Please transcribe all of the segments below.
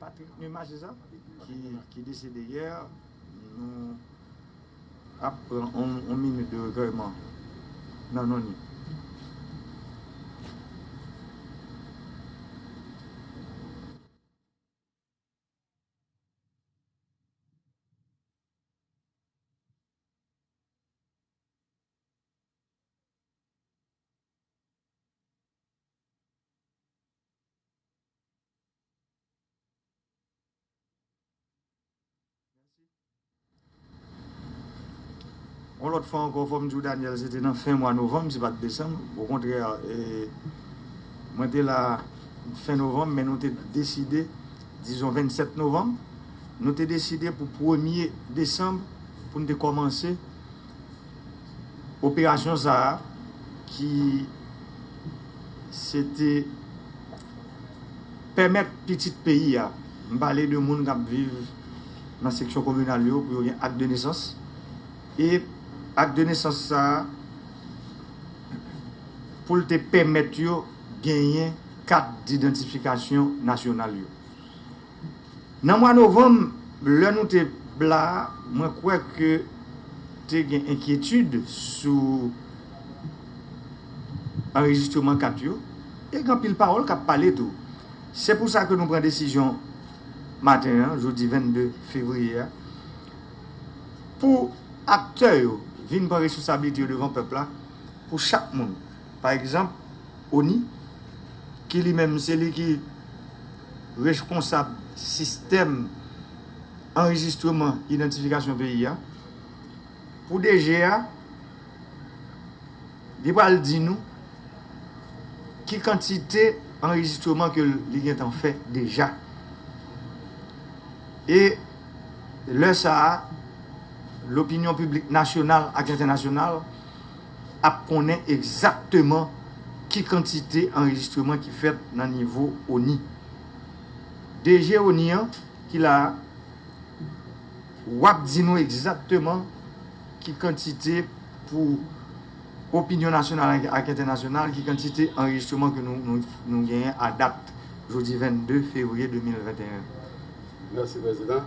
Patrick Numa se sa? Ki desede yè, nou ap pran yon minit de rekèyman nan non li. Yon lòt fwa ankò fò m di w Daniel se te nan fen mwa novanm se pa t desanm okontrè mwen te la fen novanm men nou te deside dizon 27 novanm nou te deside pou premye desanm pou n te kòmanse Operasyon sa a ki se te pèmèt pitit peyi a, m pale de moun k ap viv nan seksyon kominal yo pou yo gen ak de nesans e ak de nesans sa a pou l te pèmèt yo genyen kat didantifikasyon nasyonal yo. Nan mwa novanm, lè nou te la a, mwen kwè ke te gen enkyetid sou anrejistreman kat yo, e gen anpil pawòl k ap pale tou. Se pou sa ke nou pran desizyon maten an, jodi 22 fevriye a, pou aktè yo vin pran responsabilite yo devan pèp la, pou chak moun. Pa egzanp, ONI, ki li menm se li ki rejponsab sistèm anrejistreman idantifikasyon peyi a, pou DG a, li pral di nou ki kantite anrejistreman ke li gen tan fè deja. E lè sa a, lopinyon piblik nasyonal ak entènasyonal, ap konnen egzakteman ki kantite anrejistreman ki fèt nan nivo ONI. DG ONI an ki la a, wap di nou egzakteman ki kantite pou opinyon nasyonal ak entènasyonal, ki kantite anrejistreman ke nou genyen a dat jodi 22 fevriye 2021. Mèsi Prezidan.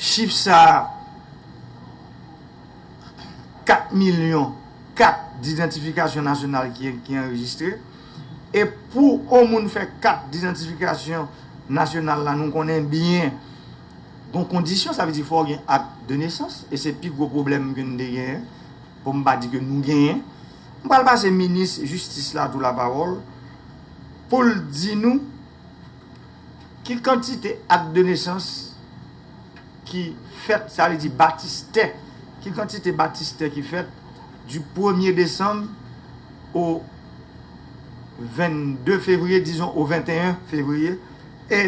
Chif sa a, 4 milyon kat didantifikasyon nasyonal ki anrejistre. E pou on moun fè kat didantifikasyon nasyonal la, nou konnen byen gon kondisyon, sa vle di fò w gen ak de nesans, e se pi gwo pwoblèm ke n te genyen, pou m pa di ke nou genyen. M pral pase minis jistis la tou lapawòl pou l di nou. Ki kantite ak de nesans ki fèt, sa vle di batistè, ki kantite batistè ki fèt di premye desanm o vennde fevriye, dizon o venteyen fevriye, e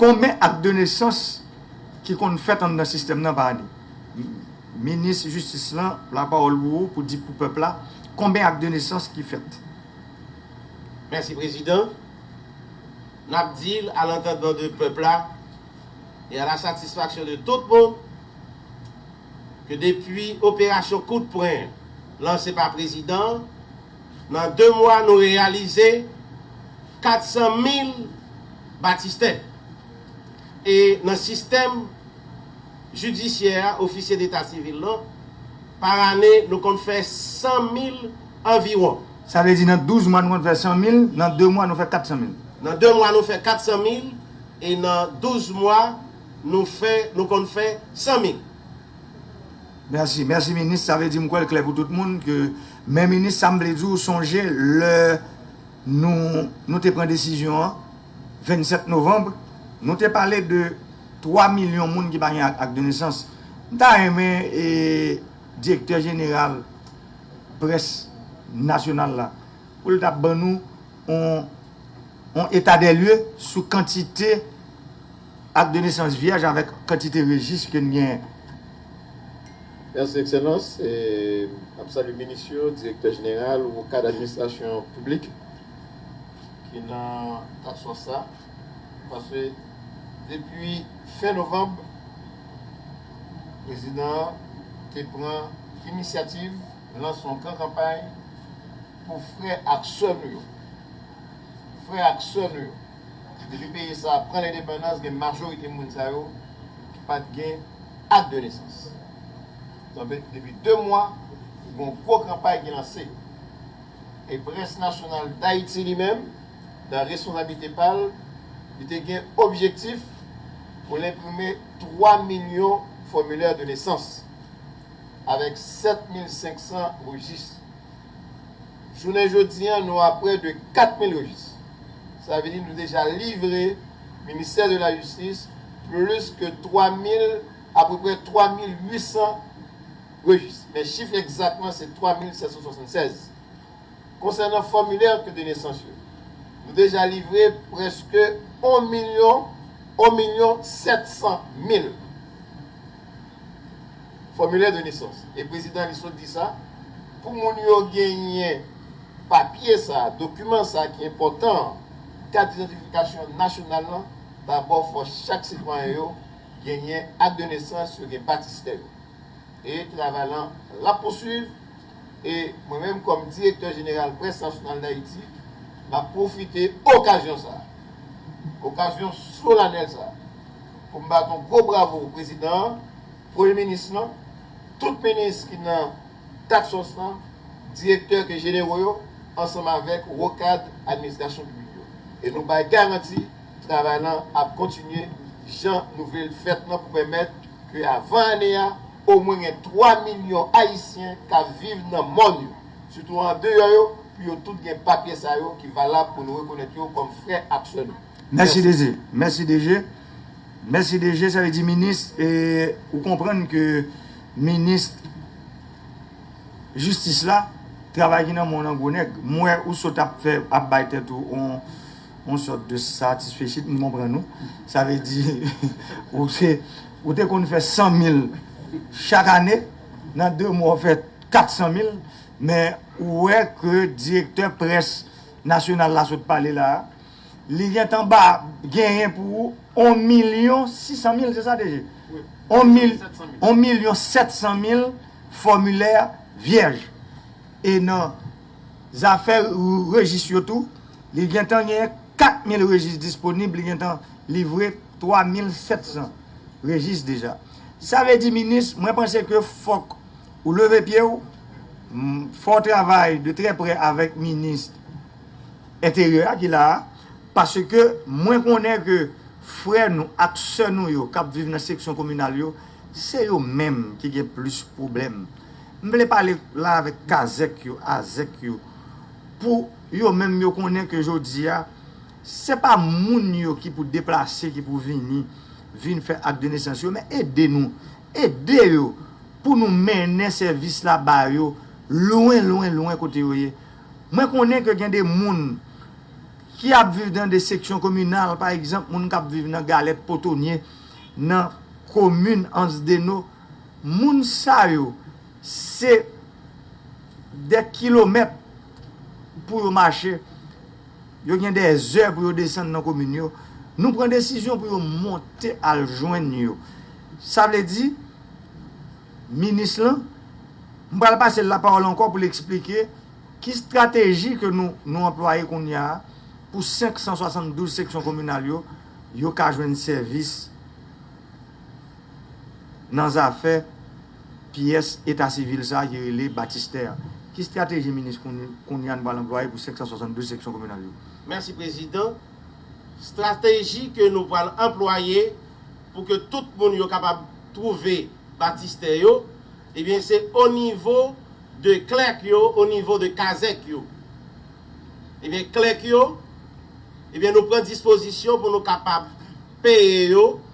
konben ak de nesans ki konn fèt anndan sistèm nan pa ane? Minis jistis lan, lapawòl pou ou pou di pou pèp la, konben ak de nesans ki fèt? Mèsi prezidan. N ap di l a lantandman de pèp la e a la satisfaksyon de tout moun ke depi operasyon kout pwen lanse pa prezidan an, nan 2 mwa nou reyalize 400 mil batistè. E nan sistèm jidisyè a, ofisye deta sivil lan, par ane nou konn fè 100 mil anviwon. Sa vle di nan 12 mwa nou konn fè 100 mil, nan 2 mwa nou fè 400 mil. Nan 2 mwa nou fè 400 mil e nan 12 mwa nou fè, nou konn fè 100 mil. Merci, merci minis, sa vle di m kwè l klè pou tout moun ke men minis sa m vle di w sonje lè nou nou te pran desizyon an 27 novanb nou te pale de 3 milyon moun ki pa gen ak de nesans m ta renmen e Direktè jeneral près nasyonal la pou l ta ban nou yon etadèlye sou kantite ak de nesans vyèj avèk kantite rejis ke n genyen. Mèsi Ekselans. N ap salye minis yo, direktè jeneral ou kad administrasyon piblik ki nan absans la. Paske depi fen novanb, prezidan an te pran inisyativ lanse yon gran kanpay pou frè ak sè nou yo. Frè ak sè nou yo. Depi peyi sa a pran lendepandans gen majorite moun sa yo ki pa t gen ak de nesans. Donk depi de mwa gen yon gwo kanpay ki lanse. E près nasyonal Dayiti li menm. nan responsablite pa l, li te gen objektif pou l enprime 3 milyon fòmilè de nesans avèk 7500 rejis. Jounen jodi an nou a prè de 4000 rejis. Sa vle di nou deja livre Ministè de la Jistis plis ke 3000, apreprè 3800 rejis. Men chif egzat lan se 3776. Konsènan fòmilè kat de nesans yo, nou deja livre prèske on milyon, 1 milyon 700 mil fòmilè de nesans e prezidan li sot di sa pou moun yo genyen papye sa, dokiman sa ki enpòtan an, kat didantifikasyon nasyonal lan, dabò fò chak sitwayen yo genyen ak de nesans yo gen batistè yo. e travay lan l ap pousuiv e mwen menm kòm direktè jeneral Près Nasyonal Dayiti m ap pwofite okazyon sa a, okazyon solanèl sa a pou m bat yon gwo bravo prezidan an, premye minis lan, tout minis ki nan Taksòs lan, direktè ke jenero yo ansanm avèk wo kad administrasyon piblik yo e nou bay garanti. Travay lan ap kontinye jan nou vle l fèt lan pou pèmèt ke avan ane a, omwen gen 3 milyon Ayisyen k ap viv nan mòn yo, sitou andeyò yo, pou yo tout gen papye sa yo ki valab pou nou rekonèt yo kòm frè ak sè nou. Mèsi DG. Mèsi DG. Mèsi DG. Sa vle di minis e ou konprann ke minis jistis la travay ki nan men w lan gwo nèg. M wè ou sot ap fè ap bay tèt ou on. Yon sòt de satisfecit m konprann ou. Sa vle di ou se ou te konn fè 100 mil chak ane, nan 2 mwa ou fè 400 mil men ou wè ke direktè près nasyonal la sot pale la a, li gentan ba genyen pou ou 1 milyon 600 mil se sa DG? 1 milyon 700 mil fòmilè vyèj. E nan Zafè rejis yo tou, li gentan genyen 4 mil rejis disponib, li gentan livre 3 mil 700 rejis deja. Sa vle di minis, mwen panse ke fòk ou leve pye w, fò w travay de trè prè avèk minis enteryè a ki la a, paske mwen konnen ke frè nou ak sè nou yo k ap viv nan seksyon kominal yo, se yo menm ki gen plis pwoblèm. M vle pale la avèk kazèk yo, azèk yo pou yo menm yo konnen ke jodi a se pa moun yo ki pou deplase ki pou vini vin fè ak de nesans yo men ede nou ede yo pou nou mennen sèvis la ba yo lwen lwen lwen kote yo ye mwen konnen ke gen de moun ki ap viv nan de seksyon kominal pa egzanp moun kap viv nan galèt potonye nan komin ansdeno. Moun sa yo se dè kilomèt pou yo mache, yo gen dè zè pou yo desann nan komin yo. Nou pran desizyon pou yo monte al jwenn yo. Sa vle di, minis lan, m pral pase l lapawòl ankò pou l eksplike ki estrateji ke nou anplwaye kounye a pou 572 seksyon kominal yo, yo ka jwenn sèvis. nan zafè pyès eta sivil sa a ki rele batistè a. Ki strateji minis kounye a nou pral anplwaye pou 572 seksyon kominal yo? Mèsi prezidan. Strateji ke nou pral anplwaye pou ke tout moun yo kapab twouve batistè yo, ebyen se o nivo de klèk yo, o nivo de kazèk yo. Ebyen klèk yo, ebyen nou pran dispozisyon pou nou kapab peye yo,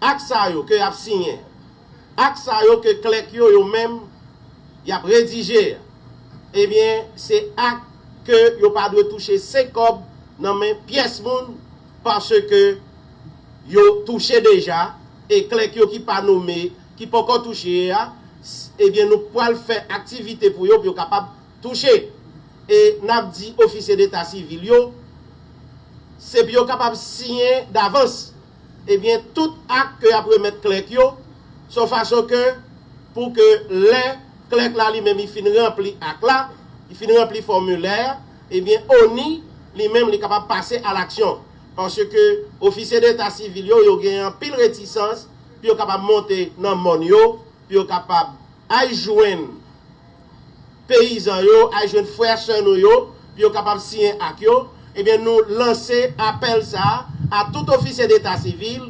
Ak sa yo ke y'ap siyen an, ak sa yo ke klèk yo yo menm y'ap redije an, ebyen, se ak ke yo pa dwe touche senk kòb nan men pyès moun, paske yo touche deja, e klèk yo ki pa nome, ki poko touche a, ebyen nou pwal fè aktivite pou yo, pou yo kapab. Touche. E n ap di ofisye deta sivil yo, se pou yo kapab siyen davans, ebyen, tout ak ke y ap remèt klèk yo, son fason ke pou ke lè klèk la li menm li fin ranpli ak la, li fin ranpli fòmilè a, ebyen, ONI li menm li kapab pase a laksyon. Paske ofisye deta sivil yo, yo gen anpil retisans pou yo kapab monte nan mòn yo, pou yo kapab ay jwenn. peyizan yo al jwenn frè ak sè nou yo pou yo kapab siyen ak yo, ebyen nou lanse apèl sa a a tout ofisye deta sivil,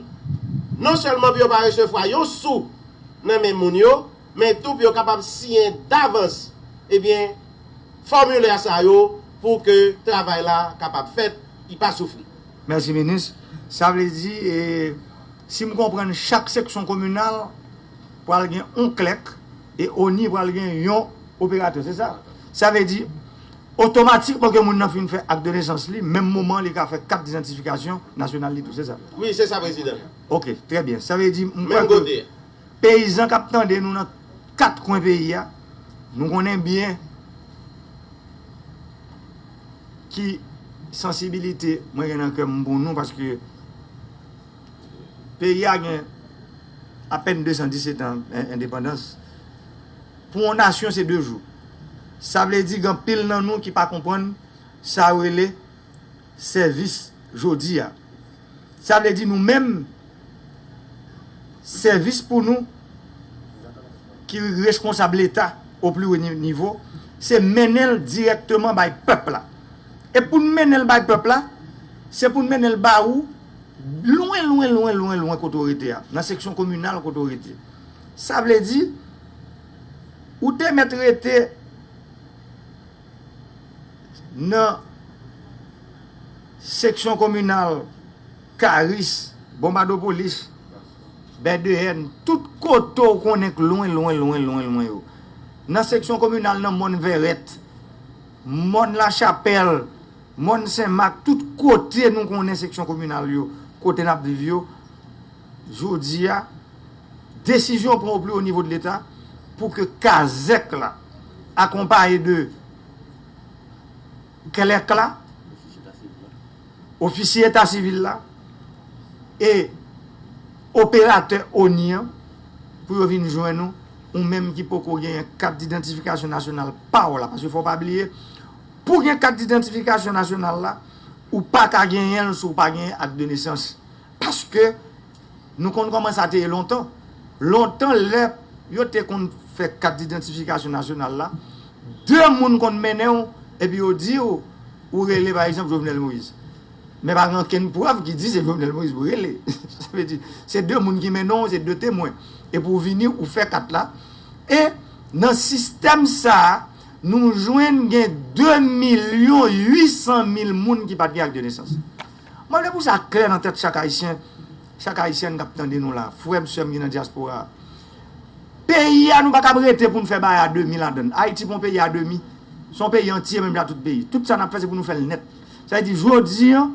non sèlman pou yo pa resevwa yon sou nan men moun yo, men tou pou yo kapab siyen davans ebyen fòmilè sa yo pou ke travay la kapab fèt, y pa soufri. Mèsi minis. Sa vle di, si m konprann chak seksyon kominal. pral gen on klèk e ONI pral gen yon operatè, se sa? Sa vle di, otomatikman ke moun nan fin fè ak de nesans li, menm moman li ka fè kat dizantifikasyon nasyonal li tou, se sa? Wi, se sa prezidan. Ok, trè byen. Sa vle di, m kwè ke peyizan k ap tande nou nan kat kwen peyi a, nou konnen byen ki sansibilite mwen gen nan kè m pou nou paske, Peyi a gen apèn 217 an endepandans. Pou yon nasyon se 2 jou. Sa vle di gen anpil nan nou ki pa konprann sa yo rele sèvis jodi a. Sa vle di nou menm sèvis pou nou ki reskonsab leta o pli wo nivo se mennen l dirèkteman bay pèp la. E pou n mennen l bay pèp la, se pou n mennen l ba ou. Lwen lwen lwen lwen lwen kote w rete a, nan seksyon kominal kote w rete. Sa vle di, ou te mèt rete nan seksyon kominal Karis, Bonbadopolis, Bèdeyèn, tout kote w konnen k lwen lwen lwen lwen lwen yo. Nan seksyon kominal nan Mòn Vèrèt, Mòn Lachapèl. Mòn Sen Mak, tout kote nou konnen seksyon kominal yo, kote n ap viv yo, jodi a, desizyon pran o pli o nivo de leta pou ke kazèk la akonpaye de klèk la, ofisye eta sivil la e operatè ONI an pou yo vin jwenn ou, ou menm ki poko genyen kat didantifikasyon nasyonal pa w la, paske fò w pa bliye, Pou gen kat didantifikasyon nasyonal la, ou pa ka genyen l si w pa genyen ak de nesans. Paske, nou konn kòman sa te ye lontan. Lontan lè yo te konn fè kat didantifikasyon nasyonal la, de moun konn mennen w epi yo di w, ou rele pa egzanp Jovenel Moïse. Men pa gen okenn prèv ki di se Jovenel Moïse pou rele. Sa vle di, se de moun ki mennen w, se de temwen. Epi ou vini, ou fè kat la. E nan sistèm sa a. Nou jwenn gen 2 milyon 800 mil moun ki pa t gen ak de nesans. Mwen vle pou sa klè nan tèt chak Ayisyen, chak Ayisyèn k ap tande nou la, frè m, sè m ki nan dyaspora a. Peyi a nou pa kab rete pou n fè bagay a demi ladan l. Ayiti pa yon peyi a demi, se yon peyi antye menm jan ak tout peyi. Tout sa n ap fè se pou nou fè l nèt. Sa vle di jodi an,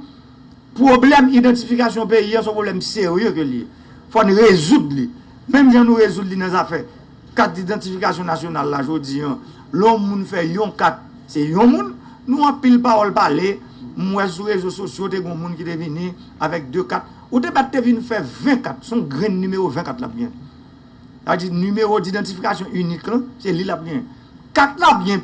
pwoblèm idantifikasyon peyi an se yon pwoblèm serye ke l ye. Fò n rezoud li. Menm jan nou rezoud li nan zafè. Kat didantifikasyon nasyonal la jodi an lè yon moun fè yon kat se yon moun nou anpil pawòl pale m wè sou rezo sosyo te gen yon moun ki te vini avèk 2 kat ou te bat te vin fè 20 kat se yon grenn nimewo 20 kat l ap gen sa vle di nimewo didantifikasyon inik lan se li l ap gen kat la byen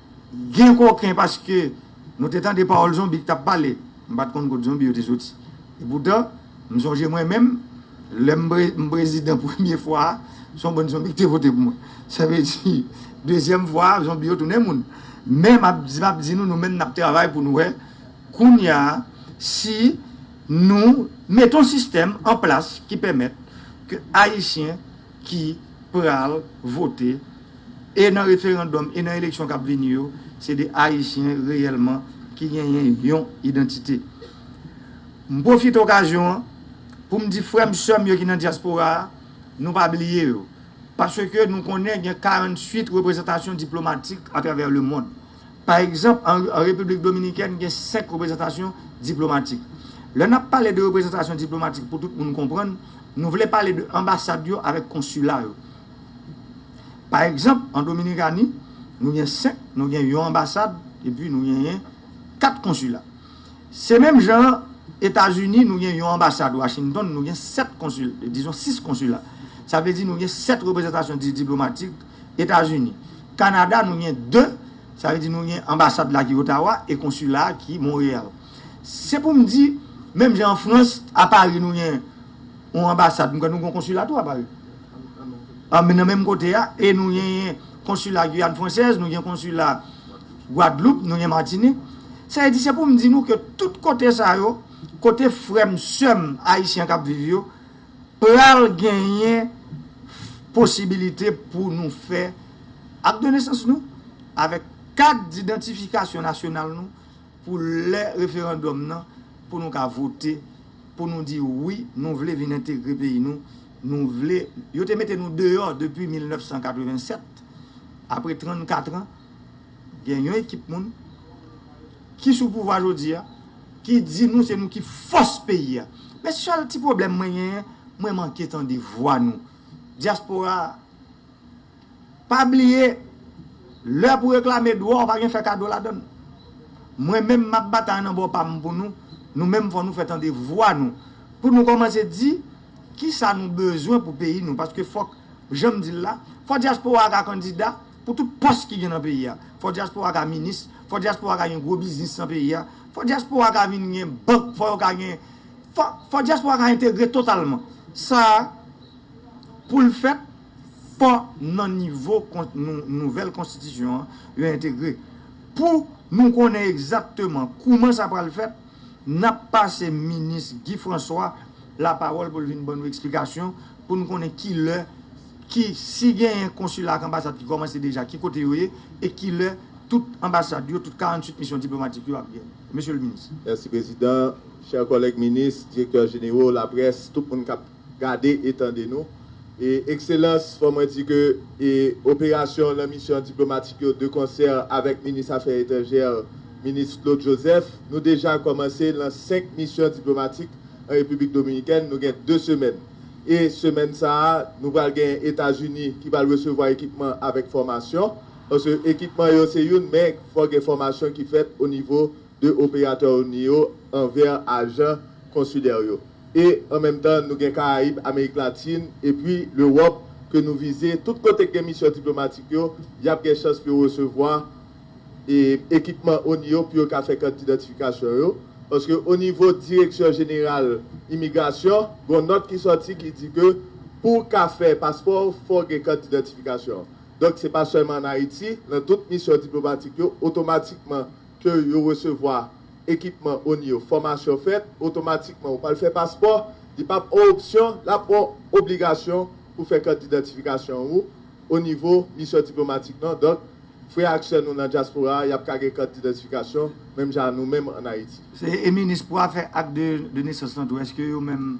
Gen koken paske nou te tande pawòl zonbi ki t ap pale. M pa t konn kot zonbi yo te soti. Epoutan, m sonje mwen menm, lè m prezidan premye fwa a, se yon bann zonbi ki te vote pou mwen. Sa vle di, dezyèm fwa a, zonbi yo tounen moun. Men, m ap di, m ap di nou, nou menm n ap travay pou nou wè kounye a si nou mete yon sistèm an plas ki pèmèt ke Ayisyen ki pral vote e nan referandòm e nan eleksyon k ap vini yo, se de Ayisyen reyèlman ki genyen yon idantite. M pwofite okazyon an pou m di frè m, sè m yo ki nan dyaspora a, nou pa bliye yo, paske nou konnen gen 48 reprezantasyon diplomatik atravè lemond. Pa egzanp, an Repiblik Dominikèn gen 5 reprezantasyon diplomatik. Lè n ap pale de reprezantasyon diplomatik pou tout moun konprann, nou vle pale de anbasad yo avèk konsila yo. Pa egzanp, an Dominikani, nou gen 5, nou gen yon anbasad epi nou genyen 4 konsila. Se menm jan an Etazini, nou gen yon anbasad Washington, nou gen 7 konsil, dizon 6 konsila. Sa vle di nou gen 7 reprezantasyon diplomatik Etazini. Kanada nou gen 2, sa vle di nou gen anbasad la ki Ottawa e konsila a ki Montreal. Se pou m di, menm jan an Frans, a Paris nou gen yon anbasad, m kwè nou gen yon konsila tou a Paris. Nan menm kote a, e nou genyen konsila Guyane Française, nou gen konsila Guadeloupe, nou gen Martinique. Sa vle di, se pou m di nou ke tout kote sa yo, kote frè m, sè m ayisyen k ap viv yo, Pral genyen posibilite pou nou fè Ak de nesans nou avèk kat didantifikasyon nasyonal nou pou lè referandòm nan pou nou ka vote pou nou di wi nou vle vin entegre peyi nou, nou vle yo te mete nou deyò depi 1987 apre 34 an. Gen yon ekip moun ki sou pouvwa jodi a ki di nou se nou ki fòs peyi a. Men sèl ti pwoblèm mwen genyen, mwen manke tande vwa nou. Dyaspora a, pa bliye, lè pou reklame dwa w pa gen fè kado ladan l. Mwen menm m ap batay nan bò pa m pou nou, nou menm fò nou fè tande vwa nou. Pou nou kòmanse di kisa nou bezwen pou peyi nou. Paske fòk, jan m di l la, fò dyaspora a ka kandida. Pou tout pòs ki gen nan peyi a. Fò dyaspora ka minis, fò dyaspora ka gen gwo biznis nan peyi a, fò dyaspora ka vin gen bank, fò yo ka gen, fò, fò dyaspora ka entegre totalman. Sa a, pou l fèt, fò nan nivo nouvèl konstitisyon an, yo entegre. Pou nou konnen egzakteman kouman sa pral fèt, n ap pase minis Guy François lapawòl pou l vin ban nou eksplikasyon pou nou konnen ki lè, ki, si genyen konsila ak anbasad ki kòmanse deja, ki kote yo ye, e ki lè tout anbasad yo, tout 48 misyon diplomatik yo ap gen, Mesye le Minis. Mèsi Prezidan, chè kòlèg Minis, Direktè Jenero, Laprès, tout moun k ap gade e tande nou. Ekselans, fò mwen di ke operasyon lan misyon diplomatik yo de konsè avèk Minis Afè Etranjè, Minis Claude Joseph, nou deja kòmanse lan 5 misyon diplomatik an Repiblik Dominikèn, nou gen 2 semèn. E semèn sa a, nou pral gen Etazini ki pral resevwa ekipman avèk fòmasyon. Paske ekipman yo se youn, men fòk gen fòmasyon ki fèt o nivo de operatè ONI yo anvè ajan konsilè yo. E an menm tan, nou gen Karayib, Amerik Latin, epi Lewòp ke nou vize. Tout kote k gen misyon diplomatik yo, y ap gen chans pou yo resevwa. ekipman oni yo pou yo ka fè kat didantifikasyon yo, paske onivo direksyon jeneral imigrasyon gon nòt ki sòti ki di ke pou w ka fè paspò fò w gen kat didantifikasyon. Donk se pa sèlman an Ayiti, nan tout misyon diplomatik yo otomatikman ke yo resevwa ekipman oni yo, fòmasyon fèt, otomatikman ou pral fè paspò, li pa p on opsyon, l ap on obligasyon pou fè kat didantifikasyon ou onivo misyon diplomatik nan. Donk Frè ak sè nou nan dyaspora a, y ap ka gen kat didentifikasyon menm jan a nou menm an Ayiti. Se e minis pou afè ak de de nesans lan tou eske yo menm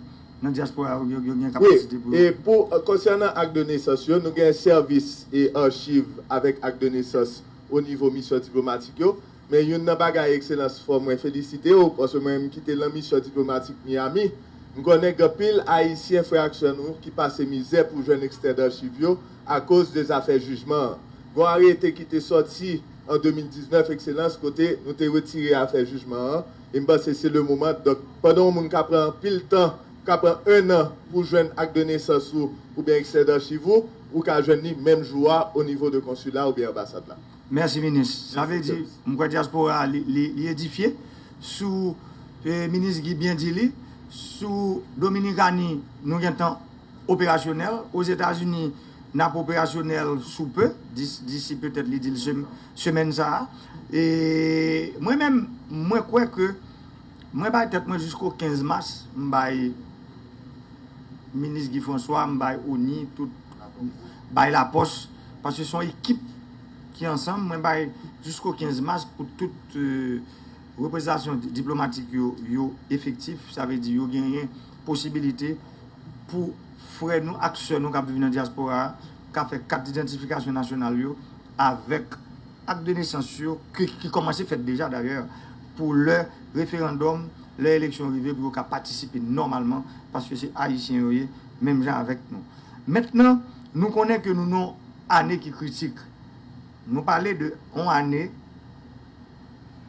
nan dyaspora a yo gen kapasite pou yo. Wi, e pou konsènan ak de nesans yo, nou gen sèvis e archiv avèk ak de nesans o nivo misyon diplomatik yo, men youn nan bagay ekselans fò mwen felisite w paske mwen m kite lan misyon diplomatik Miami, m konnen gen anpil ayisyen frè ak sè nou ki pase mizè pou jwenn ekstrè darchiv yo Akoz de zafè jijman an, gon arete ki te sòti an 2019 Ekselans kote nou te retire afè jijman an e m panse se le moman donk pandan yon moun ka pran anpil tan ka pran 1 an pou w jwenn ak de nesans ou oubyen ekstrè darchiv ou, ou ka jwenn li menm jou a o nivo de konsila oubyen anbasad la. Mèsi minis. Sa vle di m kwè dyaspora a li edifye sou minis Guy byen di li sou Dominikani nou gentan operasyonèl. Ozetazini, n ap operasyonèl sou pe, disi petèt li di l semèn sa a. E mwen menm, mwen kwè ke mwen bay tèt mwen jisko 15 mas, m bay minis Guy François, m bay ONI, tout, bay lapòs, paske son ekip ki ansanm, mwen bay jisko 15 mas pou tout reprezantasyon diplomatik yo efektif, sa vle di yo genyen. posibilite pou frè nou ak sè nou k ap viv nan dyaspora a ka fè kat didantifikasyon nasyonal yo avèk ak de nesans yo ki kòmanse fèt deja dayè pou lè referandòm, lè eleksyon rive pou yo ka patisipe nòmalman paske se ayisyen yo ye menm jan avèk nou. Mentnan nou konnen ke nou nan yon ane ki kritik. Nou pale de yon ane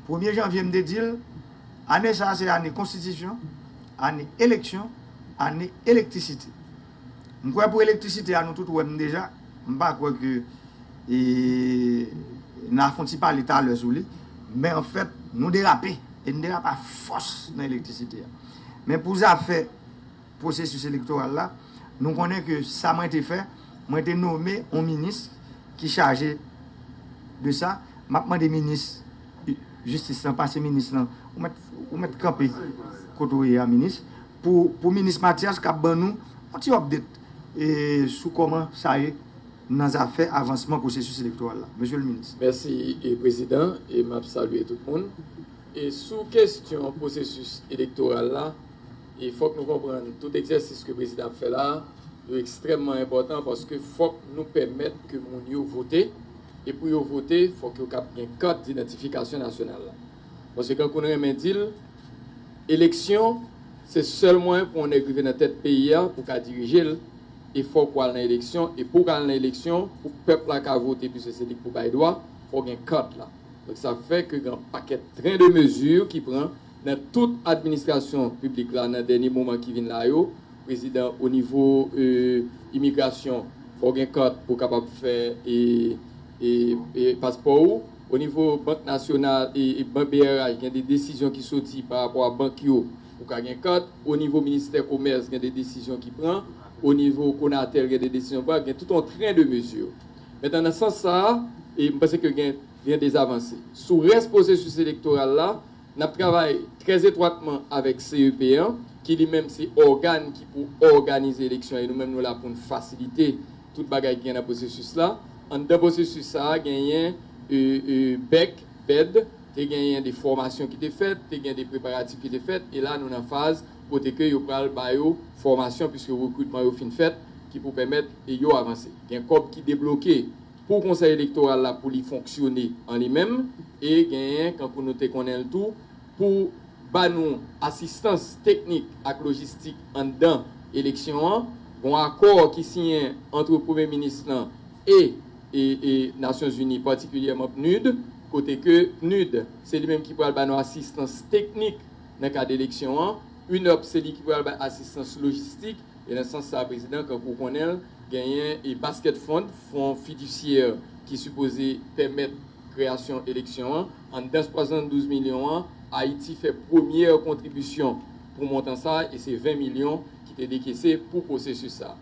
premye janvye m te di l. Ane sa a se ane konstitisyon, ane eleksyon, ane elektrisite. M kwè pou elektrisite a nou tout wè m deja, m pa kwè ke n a fon ti pale talè sou li, men an fèt nou derape e n derape a fòs nan elektrisite a. Men pou zafè pwosesis elektoral la, nou konnen ke sa mwen te fè, mwen te nome yon minis ki chaje de sa, m ap mande minis. Jistis lan pase minis lan. Ou mèt kanpe kote ou ye a minis. Pou minis Matyas k ap ban nou yon ti update sou kòman sa ye nan zafè avansman pwosesis elektoral la. Mesye le minis. Mèsi prezidan e m ap salye tout moun. Sou kestyon pwosesis elektoral la, fòk nou konprann tout egzèsis ke prezidan ap fè la a yo ekstrèmman enpòtan paske fòk nou pèmèt ke moun yo vote. E pou yo vote, fòk yo kab gen kat didantifikasyon nasyonal la. Paske Cancún renmen di l, eleksyon, se sèl mwayen pou yon nèg rive nan tèt peyi a, pou ka dirije l, e fòk ou al nan eleksyon, e pou w ka al nan eleksyon, pou pèp la ka vote, pwiske se li k pou bay dwa, fò w gen kat la. Donk sa fè ke gen yon pakèt tren de mezi ki pran nan tout administrasyon piblik la nan dènye moman ki vin la yo, Prezidan o nivo imigrasyon fòw gen kart pou kapab fè paspò ou o nivo bank nasyonal brh gen de desizyon ki soti pa rapò a bank yo pou ka gen kart o nivo ministè komès gen de desizyon ki pran o nivo konatel gen de desizyon pran gen tout yon tren de mezi mentnan nan sans sa m panse ke gen de avanse sou rès pwosesis elektoral la N ap travay trè etwatman avèk CEP an, ki li menm se ògàn ki pou òganize eleksyon e nou menm nou la pou n fasilite tout bagay ki gen nan pwosesis la. Anndan pwosesis sa a genyen bèk, bed, te genyen de fòmasyon ki te fèt, te gen de preparatif ki te fèt e la nou nan faz kote ke yo pral ba yo fòmasyon puiske rekritman yo fin fèt ki pou pèmèt yo avanse. Gen kòb ki debloke. Pou Konsèy Elektoral la pou li fonksyone an li menm e genyen kankou nou te konnen l tou pou ba nou asistans teknik ak lojistik anndan eleksyon an, gon akò ki siyen antre Premye Minis lan e e Nasyon Zini patikilyèman PNUD kote ke PNUD se li menm ki pral ba nou asistans teknik nan kad eleksyon an, UNOPS se li ki pral bay asistans lojistik e nan sans sa Prezidan kankou w konnen l, Genyen e Basket Fund, fon fidisyè ki sipoze pèmèt kreyasyon eleksyon an. Anndan 72 milyon an, Ayiti fè premyè kontribisyon pou montan sa e se 20 milyon ki te dekese pou pwosesis sa.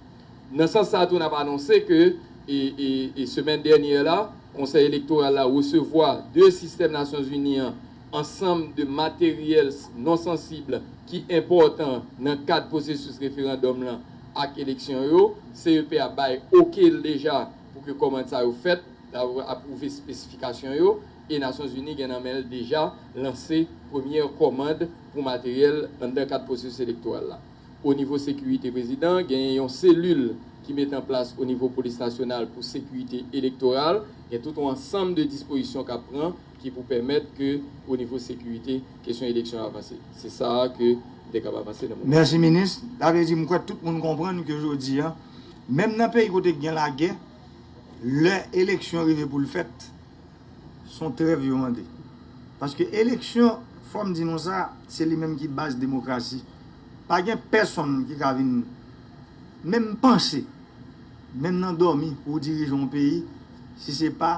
Nan sans sa tou n ap anonse ke e semèn dènyè la, Konsèy Elektoral la resevwa de sistèm Nasyonzini an ansanm de materyèls non sansib ki enpòtan nan kad pwosesis referandòm lan, ak eleksyon yo, CEP a bay ok l deja pou ke kòmand sa yo fèt, l ap apwouve espesifikasyon yo, e Nasyon Zini gen nan men l deja lanse premyè kòmand pou materyèl anndan kad pwosesis elektoral la. O nivo sekirite prezidan, genyen yon selil ki mete an plas o nivo polis nasyonal pou sekirite elektoral, gen tout on ansanm de dispozisyon k ap pran, ki pou pèmèt ke o nivo sekirite kesyon eleksyon an avanse. Se sa a ke m te kab avanse nan moman sa. Mèsi minis. Sa vle di m kwè tout moun konprann ke jodi a, menm nan peyi kote ki gen lagè, lè eleksyon rive pou l fèt, s on trèv yo mande. Paske eleksyon, fò m di nou sa, se li menm ki baz demokrasi. Pa gen pèsonn ki ka vin menm panse. Menm nan dòmi pou w dirije yon peyi si se pa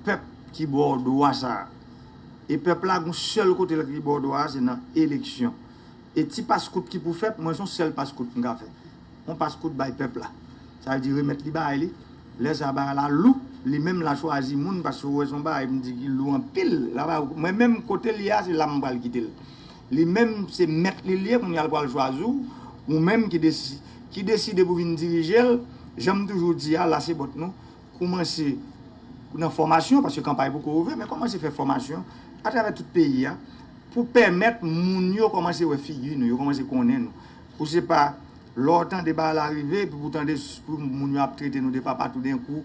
pèp ki ba w dwa sa a. E pèp la gen yon sèl kote l ki ba w dwa a se nan eleksyon. E ti paskout ki pou fèt mwen se yon sèl paskout m ka fè. Yon paskout bay pèp la. Sa vle di remèt li bagay li. Lè sa a bagay la lou, li menm la chwazi moun paske ou wè se yon bagay m di ki lou anpil. Mwen menm kote l ye a se la m pral kite l. Li menm se mèt li l ye, kounya l pral chwazi w, ou menm ki ki deside pou vin dirije l. Jan m toujou di a, Lasebot nou, koumanse nan fòmasyon, paske kanpay poko ouvè, men kòmanse fè fòmasyon atravè tout peyi a pou pèmèt moun yo kòmanse wè figi nou, yo kòmanse konnen nou. Pou se pa lè w tande bagay la rive, epi pou w tande pou moun yo ap trete nou de papa toudenkou,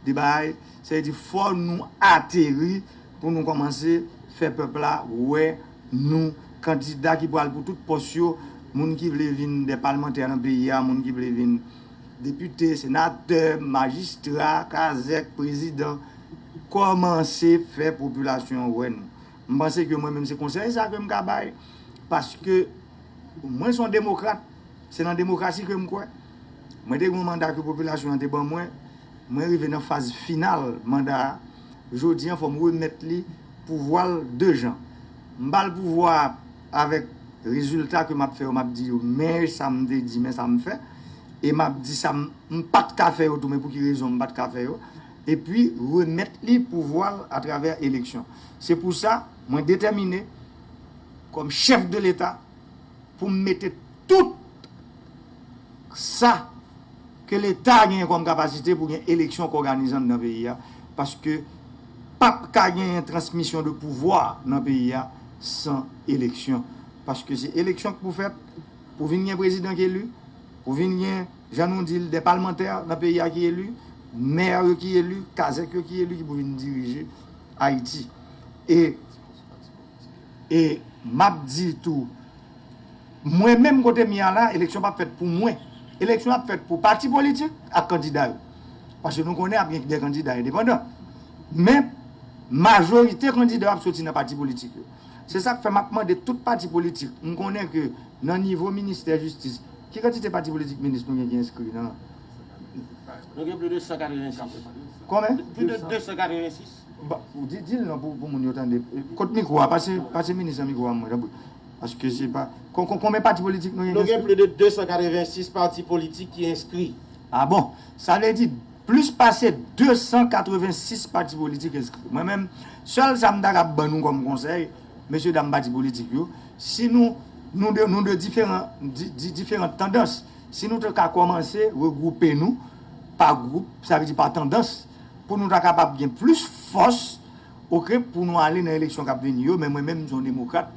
de bagay, sa vle di fò nou ateri pou nou kòmanse fè pèp la wè. nou, kandida ki pral pou tout pòs yo, moun ki vle vin dè palmantè nan peyi a, moun ki vle vin depite, senatè, majistra, kazèk, prezidan, kòmanse fè popilasyon an wè nou. M panse ke mwen menm se konsèy sa ke m ka bay, paske mwen son demokrat, se nan demokrasi ke m kwè. Mwen te gen yon manda ke popilasyon an te ban mwen, mwen rive nan faz final manda a. Jodi an fòm remèt li pouvwa l 2 jan. M ba l pouvwa a avèk rezilta ke m ap fè yo m ap di yo men sa m te di men sa m fè e m ap di sa m pa t ka fè yo tou men pou ki rezon m pa t ka fè yo epi remèt li pouvwa l atravè eleksyon. Se pou sa mwen detèmine kòm chèf de leta pou m mete tout sa. Ke leta genyen kòm kapasite pou gen eleksyon k òganizan nan peyi a, paske pap ka genyen transmisyon de pouvwa nan peyi a san eleksyon. Paske se eleksyon k pou fèt pou vin gen prezidan k eli, pou vin gen, jan nou di l, dè palmantè nan peyi a ki eli, mè yo ki eli, kazèk yo ki eli ki pou vin dirije Ayiti. E. E map di tou Mwen menm kote m ye a la eleksyon pap fèt pou mwen eleksyon ap fèt pou pati politik ak kandida yo paske nou konnen ap gen de kandida endepandan men majorite kandida yo ap soti nan pati politik yo se sak fè map mande tout pati politik m konnen ke nan nivo ministè jistis ki kantite pati politik minis nou gen ki enskri nan Nou gen pli de 186 Konbyen? Pli de 286 Dil non pou moun yo tande. Kot mikro a pase minis lan mikro a mwen tanpri paske se pa konbyen pati politik nou gen ki enskri? Nou gen plis de 286 pati politik ki enskri. A bon! Sa vle di plis pase 286 pati politik enskri. Mwen menm sèl sa m ta kab ban nou kòm konsèy mesye dam pati politik yo si nou nou de diferan diferant tandans si nou te ka kòmanse regwoupe nou pa gwoup sa vle di pa tandans. Pou nou ta kapab gen plis fòs ok pou nou ale nan eleksyon k ap vini yo men mwen menm m se yon demokrat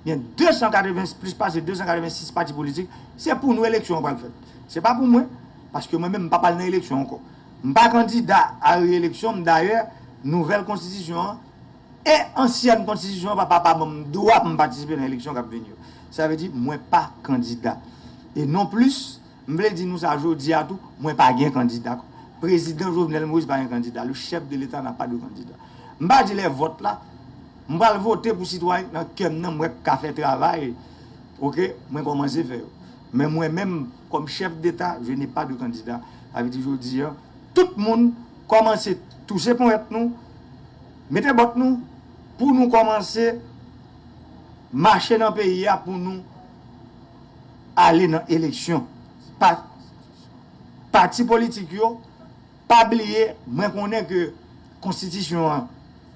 gen 280 plis pase 286 pati politik se pou nou eleksyon an pral fèt se pa pou mwen paske mwen menm m p ap al nan eleksyon ankò m pa kandida a reeleksyon m dayè nouvèl konstitisyon an e ansyèn konstitisyon an pa pa pa ban m dwa pou m patisipe nan eleksyon k ap vini yo sa vle di mwen pa kandida e non plis. M vle di nou sa jodi a tou, mwen pa gen kandida. Prezidan Jovenel Moïse pa gen kandida, le chef de l'Etat n'a pas de candidat. M pa di lè vòt la, m pral vote pou sitwayen ki nan kè m nan m wè k ka fè travay ok mwen kòmanse fè yo. Men mwen menm kòm chef d'Etat je n'ai pas de candidat. Sa vle di jodi a tout moun kòmanse touche ponyèt nou, mete bòt nou pou nou kòmanse mache nan peyi a pou nou. ale nan eleksyon pa pati politik yo pa bliye mwen konnen ke konstitisyon an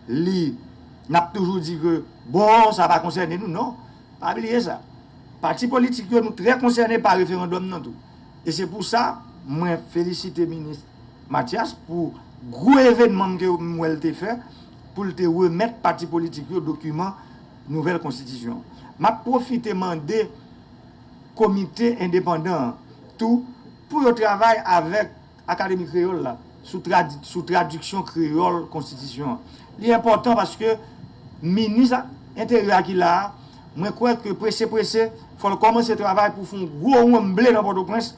li nap toujou di ke bon sa pa konsène nou non pa bliye sa pati politik yo nou trè konsène pa referandòm nan tou e se pou sa mwen felisite minis Matyas pou gwo evènman m wèl te fè poul te remèt pati politik yo dokiman nouvèl konstitisyon an. M ap pwofite mande komite endepandan an tou pou yo travay avèk Akademi Kreyòl la sou tradiksyon kreyòl konstitisyon an. Li enpòtan paske minis enteryè a ki la a, mwen kwè ke prese prese fò l kòmanse travay pou fè yon gwo wonnmble nan Pòtoprens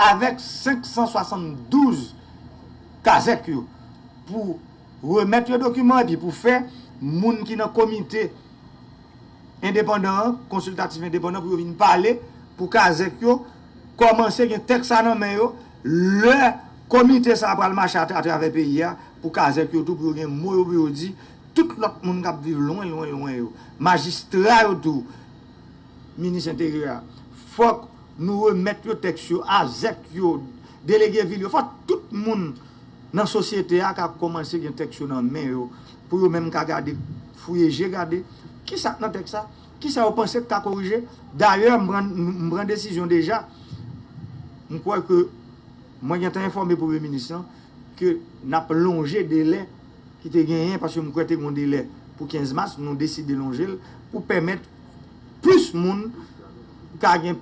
avèk 572 kazèk yo pou Remèt yon dokiman epi pou fè moun ki nan komite endepandan an, konsiltatif endepandan pou yo vin pale pou kazèk yo kòmanse gen tèks sa nan men yo lè komite sa pral mache atravè peyi a pou kazèk yo tou pou yo gen mo yo pou yo di tout lòt moun k ap viv lwen lwen lwen yo majistra yo tou minis enteryè a fòk nou remèt yo tèks yo azèk yo delege vil yo fòk tout moun Nan sosyete a ka kòmanse gen tèks yo nan men yo pou yo menm ka gade, fouye je gade, ki sa k nan tèks la? Ki sa yo panse k ka korije? Dayè m pran m pran desizyon deja, m kwè ke mwen gen tan enfòme Premye Minis lan ke n ap lonje delè ki te genyen, paske m kwè te gen yon delè pou 15 mas, nou deside lonje l pou pèmèt plis moun ka gen.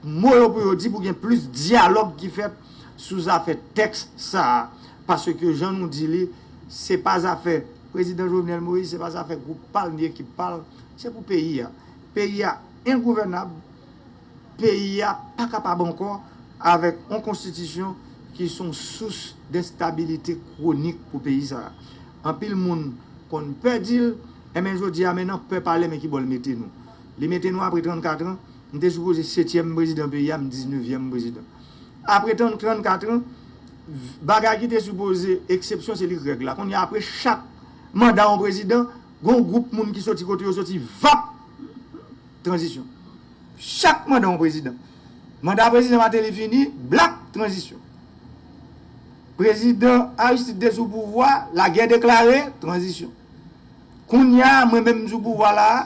mo yo pou yo di pou gen plis dyalòg ki fèt sou zafè tèks sa a, paske jan nou di li, se pa zafè Prezidan Jovenel Moïse, se pa zafè gwoup pa l ni ekip pa l, se pou peyi a. Peyi a engouvènab, peyi a pa kapab ankò avèk yon konstitisyon ki son sous denstabilite kwonik pou peyi sa a. Anpil moun konn pè di l, enben jodi a men nan pè pale men ki bò l mete nou. Li mete nou apre 34 an. M te sipoze setyèm prezidan peyi a, m diznevyèm prezidan. Apre 34 an, bagay ki te sipoze eksepsyon se li k règ la. Kounye a apre chak manda yon prezidan, gen yon gwoup moun ki soti kote yo soti, vap! Tranzisyon. Chak manda yon prezidan. Manda prezidan Mateli fini, blak! Tranzisyon. Prezidan Aristide te sou pouvwa, lagè deklare, tranzisyon. Kounye a, mwen menm m sou pouvwa la a,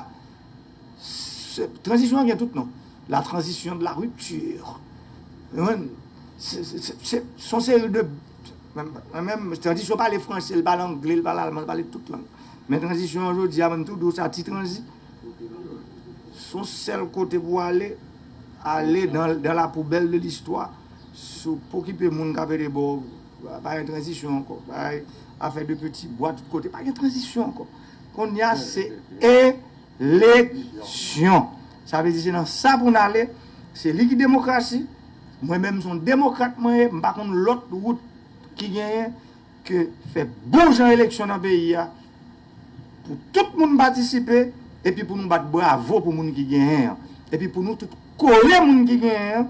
Tranzisyon an gen tout non. La transition de la rupture. Son seri de. Tranzisyon pale franse, li pale angle, li pale alman, li pale tout lang. Men tranzisyon an jodi a bann tou dous a ti tranzi. Son sèl kote pou ale, ale dans la poubelle de l'histoire. Sou pokipe moun kap ede baw, pa gen tranzisyon ankò. Afè de peti bwa tout kote, pa gen tranzisyon ankò. Konnya se eleksyon. Sa vle di se nan sa pou n ale. Se li ki demokrasi. Mwen menm se yon demokrat mwen ye. M pa konn lòt wout ki genyen ke fè bon jan eleksyon nan peyi a pou tout moun patisipe epi pou nou bat bravo pou moun ki genyen an. Epi pou nou tout kore moun ki genyen an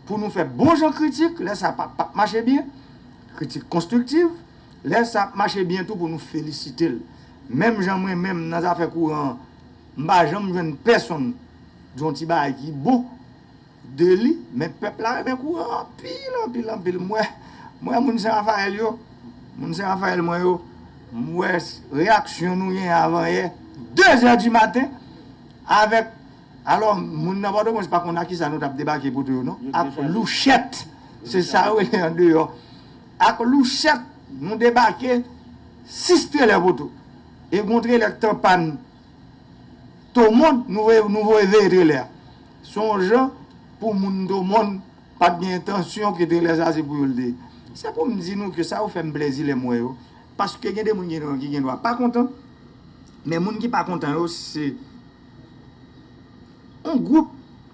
pou nou fè bon jan kritik lè sa pa pap mache byen. Kritik konstriktiv. Lè sa ap mache byen tou pou nou felisite l. Menm jan mwen menm nan zafè kouran an, m pa janm jwenn pèsonn di yon ti bagay ki bon de li, men pèp la renmen kouran an anpil, anpil, anpil. M wè, m wè moun Sen Rafayèl yo, moun Sen Rafayèl mwen yo, m wè reyaksyon nou genyen avanyè, dezè di maten, avèk, alò, moun nan Pòtoprens pa konn ak kisa nou t ap debake poto yo non, ak louchèt, se sa yo rele andeyò. Ak louchèt nou debake 6 trelè poto e gon trelè k t an pàn Tomond nou voye nou voye veye trelè a. Son w jan pou moun Tomond pat gen entansyon ke trelè sa se pou yo l te ye. Se pou m di nou ke sa yo fè m plèzi lè m wè yo paske gen de moun gen nan yo ki gen dwa pa kontan men moun ki pa kontan yo se On gwoup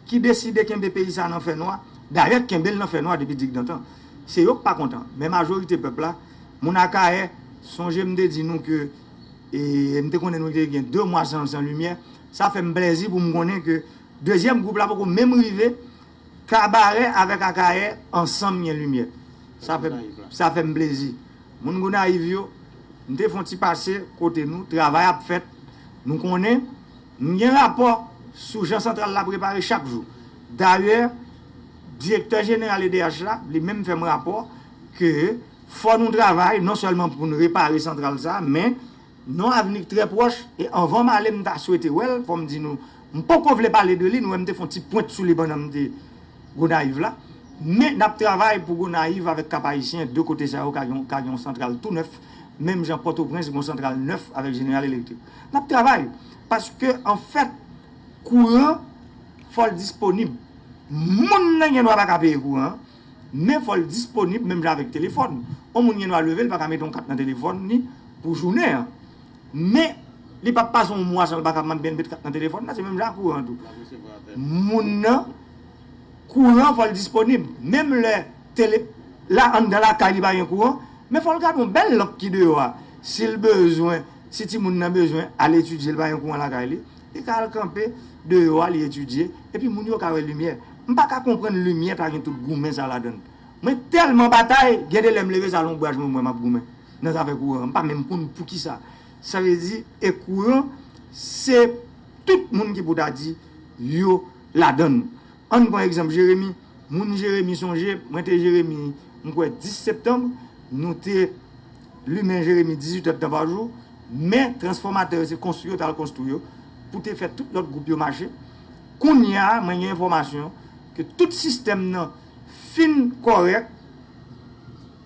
ki deside kenbe peyi sa nan fè nwa, dayè kenbe l nan fè nwa depi dikdantan, se yo k pa kontan, men majorite pèp la, moun Akayè, sonje m te di nou ke m te konnen nou te gen 2 mwa san limyè, sa fè m plèzi pou m konnen ke dezyèm gwoup la poko menm rive. Kabarè avèk Akayè ansanm gen limyè. Sa fè m plezi. Moun Gonayiv yo, m te fè yon ti pase kote nou, travay ap fèt. Nou konnen, m gen rapò sou jan santral la prepare chak jou. Dayè, direktè jeneral edh la, li menm fè m rapò ke fò nou travay non sèlman pou n repare santral sa a, men Nan avni k trè pwòch, e anvan m ale m ta swete wè l, fò m di nou, m poko vle pale de li, nou wè m te fè yon ti pwent sou li pandan m te Gonayiv la, men n ap travay pou Gonayiv avèk Kap-Ayisyen, 2 kote sa yo ka gen yon santral tou nèf, menm jan Pòtoprens gen yon santral nèf avèk Jeneral Elektrik. N ap travay, paske an fèt, kouran, fò l disponib. Moun nan gen dwa pa ka peye kouran an, Men fò l disponib menm jan avèk telefòn. On moun gen dwa leve li pa ka mete on kat nan telefòn li pou jounen an. Men li pap pase on mwa san l pa ka mande met kat nan telefòn la. Se menm jan ak kouran tou. Moun nan kouran fò l disponib. Menm lè tele la anndan lakay li pa gen kouran. Men fò l gade on bèl lanp ki deyò a. Si l bezwen, si timoun nan bezwen al etidye li pa gen kouran lakay li. Li ka al kanpe deyò a, li etidye, epi moun yo ka wè limyè. M pa ka konprann limyè ta gen tout goumen sa ladan l. Mwen tèlman batay, gen de lè m leve sa lonbraj mwen m wè m ap goumen nan zafè kouran an. M pa menm konn poukisa. Sa vle di, e kouran, se tout moun ki pou ta di yo ladan l. Ann pran egzanp Jeremi. Moun Jeremi sonje, mwen te Jeremi, m kwè 10 septanm, nou te. Limen Jeremi 18 èdtan pa jou, men transfòmatè yo se konstwi yo t al konstwi yo pou te fè tout lòt gwoup yo mache. Kounye a, mwen gen enfòmasyon ke tout sistèm nan fin kòrèk.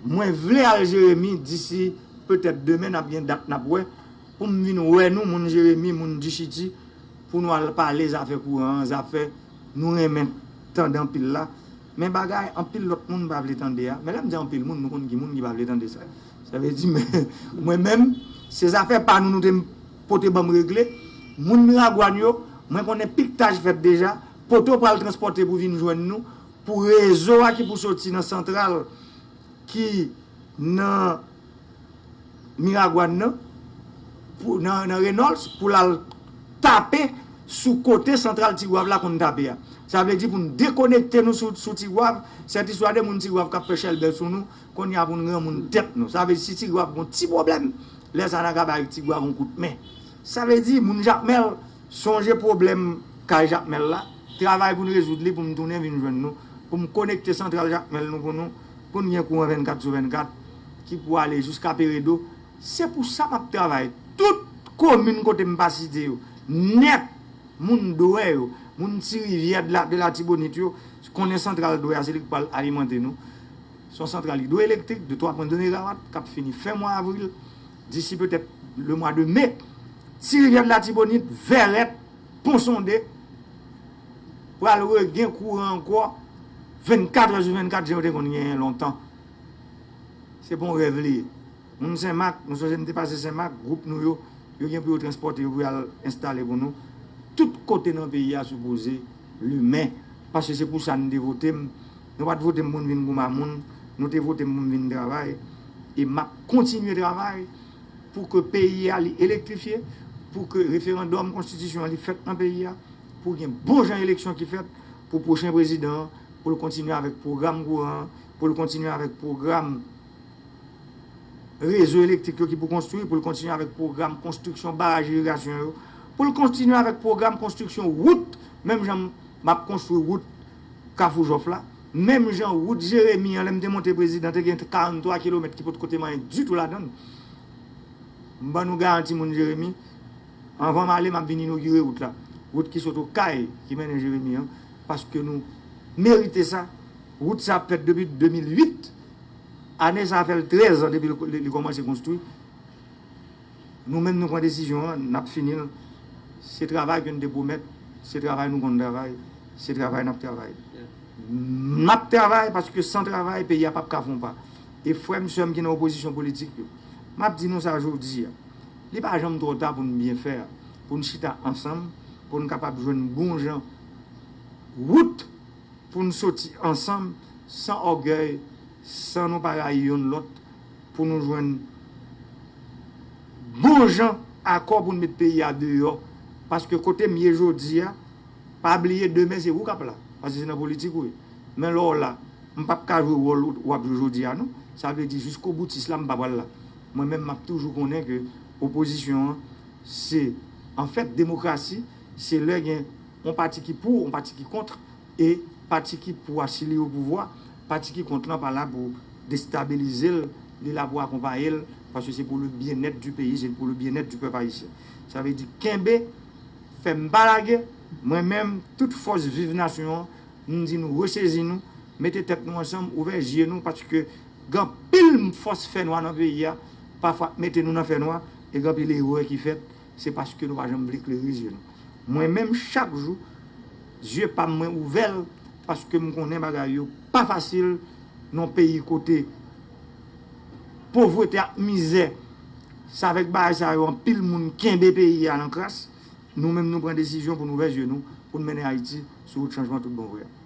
Mwen vle al Jeremi disi petèt demen, n ap gen dat n ap wè, pou m vin wè nou moun Jeremi, moun Dichiti, pou nou al pale zafè kouran an, zafè nou renmen tande anpil la. Men bagay anpil lòt moun pa vle tande a, men lè m di anpil moun, nou konn ki moun ki pa vle tande sa. Sa vle di men, mwen menm, se zafè pa nou nou te pote ban m regle. Moun Miragwàn yo, mwen konnen piktaj fèt deja, poto pral transpòte pou vin jwenn nou, pou rezo a ki pou soti nan santral ki nan. Miragwàn nan, pou nan Renols pou lal tape sou kote santral Tigwav la konn tape a. Sa vle di pou n dekonekte nou sou Tigwav, sètiswa de moun Tigwav k ap fè chèlbè sou nou, konnya pou n granmoun tèt nou. Sa vle di si Tigwav gon ti pwoblèm, lè sa a n a ka bay Tigwav on kout men. Sa vle di moun Jakmèl, sonje pwoblèm kay Jakmèl la, travay pou n rezoud li pou m tounen vin jwenn nou, pou m konekte santral Jakmèl nou pou nou. Konn gen kouran 24 sou 24 ki pou ale jiska Peredo, se pou sa map travay tout komin kote m pa site yo nèt, moun Dwè yo, moun ti rivyè de latibonit yo konnen santral Dwè a se li ki pral alimante nou, se yon santral idwoelektrik de 3 pwen 2 megawat kap fini fen mwa avril disi petèt le mwa de me, ti rivyè de latibonit, Vèrèt, Ponsonde. pral regen kouran ankò 24 è sou 24 jan yo te konn genyen lontan. Se pa yon rèv li ye. Moun Senmak, nou sonje nou te pase Senmak, gwoup nou yo, yo gen pou yo transpòte yo pou y al enstale pou nou. Tout kote nan peyi a sipoze limen paske se pou sa nou te vote m. Nou pa t vote m pou m vin gouman moun, nou te vote m pou m vin travay e m ap kontinye travay pou ke peyi a li elektrifye, pou ke referandòm konstitisyon an li fèt nan peyi a. Pou gen bon jan eleksyon ki fèt pou pwochen prezidan an, pou l kontinye avèk pwogram kouran an, pou l kontinye avèk pwogram rezo elektrik yo ki pou konstwi, pou l kontinye avèk pwogram konstriksyon baraj irigasyon yo, pou l kontinye avèk pwogram konstriksyon wout, menm jan m ap konstwi wout Kafou Jòf la, menm jan wout Jeremi an lè m te monte prezidan te gen 43 kilomèt ki potko te manyen ditou ladan l. M ban nou garanti moun Jeremi. Anvan m ale, m ap vin inogire wout la, wout ki sot Okay ki mennen Jeremi an, paske nou merite sa. Wout sa ap fèt depi 2008. Ane sa a fè l 13 an depi li kòmanse konstwi. Nou menm nou pran desizyon an, n ap fini l. Se travay ke n te pwomèt, se travay nou konn travay, se travay n ap travay. M ap travay paske san travay peyi a pap ka fè yon pa. E frè m, sè m ki nan opozisyon politik yo, m ap di nou sa jodi a. Li pa janm twò ta pou n byen fè, pou n chita ansanm, pou n kapab jwenn bon jan wout pou n soti ansanm san ògèy, san nou pa rayi yonn lòt, pou nou jwenn bon jan akò pou n met peyi a deyò. Paske kote m ye jodi a, pa bliye demen se ou k ap la, paske se nan politik ou ye. Men lè w la, m p ap ka jwe wòl ou ap jwe jodi a non. Sa vle di jiskoboutis la m pa pral la. Mwen menm map toujou konnen ke opozisyon an se anfèt demokrasi se lè gen yon pati ki pou yon pati ki kontr e pati ki pou a si li opouvwa pati ki kontr lan pa la pou destabilizel li la pou akonpayel paske se pou le byennèt di peyi se pou le byennèt di pèp ayisyen sa vle di kenbe fèm pa lage mwen menm tout fòs viv nasyon an m di nou resezi nou mete tèt nou ansanm ouvè zye nou paske. Gen anpil fòs fè nwa nan peyi a, pafwa k mete nou nan fè nwa, e gen anpil erè ki fèt, se paske nou pa janm vle klere zye nou. Mwen menm chak jou, zye pa m mwen ouvè l, paske m konnen bagay yo pa fasil nan yon peyi kote povrete ak mizè, se avèk bagay sa yo anpil moun kenbe peyi a nan kras, nou menm nou pran desizyon pou n ouvè zye nou, pou n mennen Ayiti sou wout chanjman tout bon vre a.